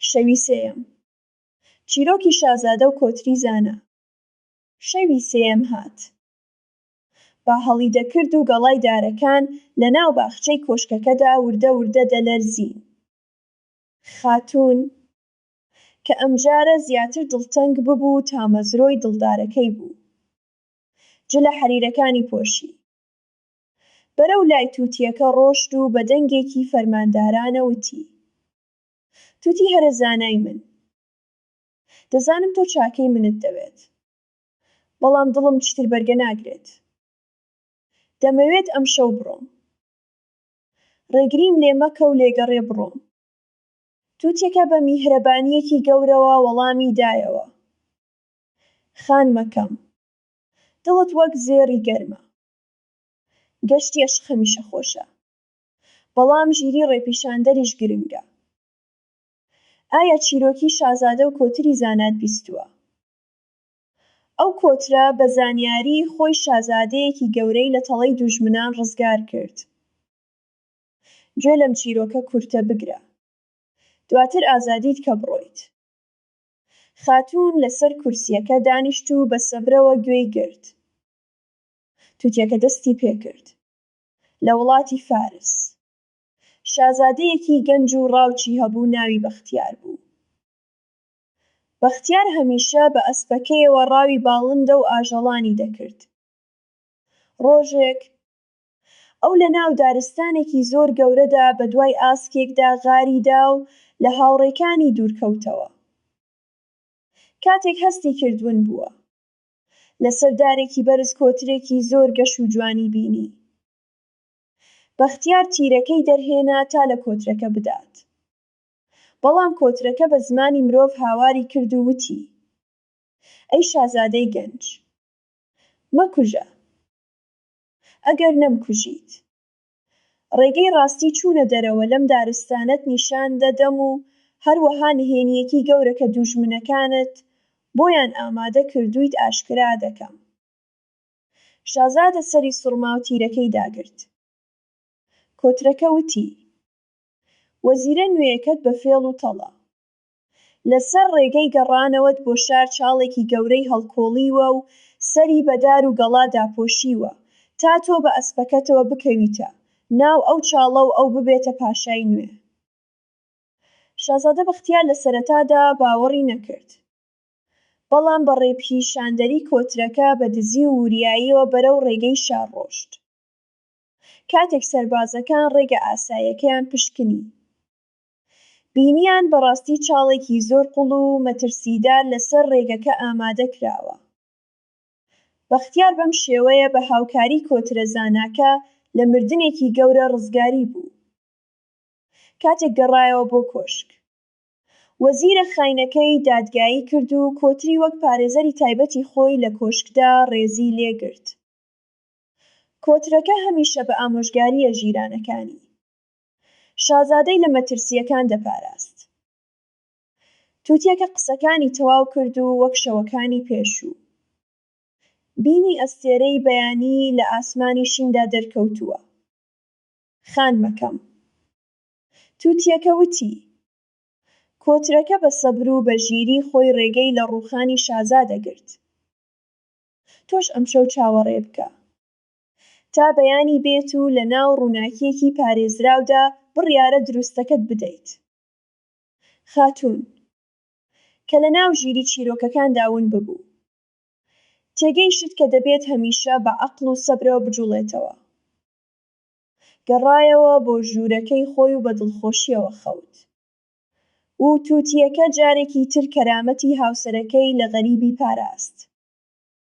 شەوی سێیەم چیرۆکی شازادە و کۆتری زانا شەوی سێیەم هات با هەڵی دەکرد و گەڵای دارەکان لە ناو باخچەی کۆشکەکەدا وردە وردە دەلەرزین خاتوون کە ئەمجارە زیاتر دڵتەنگ ببوو تامەزرۆی دڵدارەکەی بوو جلە حەریرەکانی پۆشی بەرەو لای توتیەکە ڕۆشت و بە دەنگێکی فەرماندارانە وتی، توتی هەرە زانای من، دەزانم تۆ چاکەی منت دەوێت، بەڵام دڵم چیتر بەرگە ناگرێت. دەمەوێت ئەمشەو بڕۆم. ڕێگریم لێ مەکە و لێگەڕێ بڕۆم. توتیەکە بە میهرەبانییەکی گەورەوە وەڵامی دایەوە، خانمەکەم، دڵت وەک زێڕی گەرمە. گەشتی ئەشق هەمیشە خۆشە بەڵام ژیری ڕێپیشاندەریش گرنگە ئایا چیرۆکی شازادە و کۆتری زانات بیستووە؟ ئەو کۆترە بە زانیاری خۆی شازادەیەکی گەورەی لە تەڵەی دوژمنان ڕزگار کرد گوێ لەم چیرۆکە کورتە بگرە دواتر ئازادیت کە بڕۆیت خاتوون لەسەر کورسیەکە دانیشت و بە سەبرەوە گوێی گرت توتیەکە دەستی پێکرد لە وڵاتی فارس شازادەیەکی گەنج و ڕاوچی هەبوو ناوی بەختیار بوو بەختیار هەمیشە بە ئەسپەکەیەوە ڕاوی باڵندە و ئاژەڵانی دەکرد ڕۆژێک ئەو لە ناو دارستانێکی زۆر گەورەدا بە دوای ئاسکێکدا غاری دا و لە هاوڕێکانی دوورکەوتەوە کاتێک هەستی کرد ون بووە لەسەر دارێکی بەرز کۆترێکی زۆر گەش و جوانی بینی. بەختیار تیرەکەی دەرهێنا تا لە کۆترەکە بدات. بەڵام کۆترەکە بە زمانی مرۆڤ هاواری کرد و وتی، ئەی شازادەی گەنج! مەکوژە! ئەگەر نەمکوژیت، ڕێگەی ڕاستی چوونە دەرەوە لەم دارستانەت نیشان دەدەم و هەروەها نهێنییەکی گەورە کە دووژمنەکانت بۆیان ئامادە کردوویت ئاشکرا دەکەم. شازادە سەری سوڕما و تیرەکەی داگرت. کۆترەکە وتی، وەزیرە نوێیەکەت بە فێڵ و تەڵە. لەسەر ڕێگەی گەڕانەوەت بۆ شار چاڵێکی گەورەی هەڵکۆڵیوە و سەری بە دار و گەڵا داپۆشیوە تا تۆ بە ئەسپەکەتەوە بکەویتە ناو ئەو چاڵە و ئەو ببێتە پاشای نوێ. شازادە بەختیار لە سەرەتادا باوەڕی نەکرد، بەڵام بە ڕێپیشاندەری کۆترەکە بە دزی و وریاییەوە بەرەو ڕێگەی شار ڕۆشت. کاتێک سەربازەکان ڕێگە ئاساییەکەیان پشکنی، بینیان بەڕاستی چاڵێکی زۆر قوڵ و مەترسیدار لەسەر ڕێگەکە ئامادە کراوە. بەختیار بەم شێوەیە بە هاوکاری کۆترە زاناکە لە مردنێکی گەورە ڕزگاری بوو. کاتێک گەڕایەوە بۆ کۆشک. وەزیرە خاینەکەی دادگایی کرد و کۆتری وەک پارێزەری تایبەتی خۆی لە کۆشکدا ڕێزی لێ گرت. کۆترەکە هەمیشە بە ئامۆژگارییە ژیرانەکانی. شازادەی لە مەترسییەکان دەپاراست. توتیەکە قسەکانی تەواو کرد و وەک شەوەکانی پێشوو، بینی ئەستێرەی بەیانی لە ئاسمانی شیندا دەرکەوتووە. خانمەکەم. توتیەکە وتی. کۆترەکە بە سەبر و بە ژیری خۆی ڕێگەی لە ڕووخانی شازادە گرت. تۆش ئەمشەو چاوەڕێ بکە. تا بەیانی بێت و لە ناو ڕووناکیەکی پارێزراودا بڕیارە دروستەکەت بدەیت خاتوون کە لە ناو ژیری چیرۆکەکاندا ون ببوو تێگەیشت کە دەبێت هەمیشە بە عەقڵ و سەبرەوە بجوڵێتەوە گەڕایەوە بۆ ژوورەکەی خۆی و بە دڵخۆشیەوە خەوت و تووتیەکە جارێکی تر کەرامەتی هاوسەرەکەی لە غەریبی پاراست.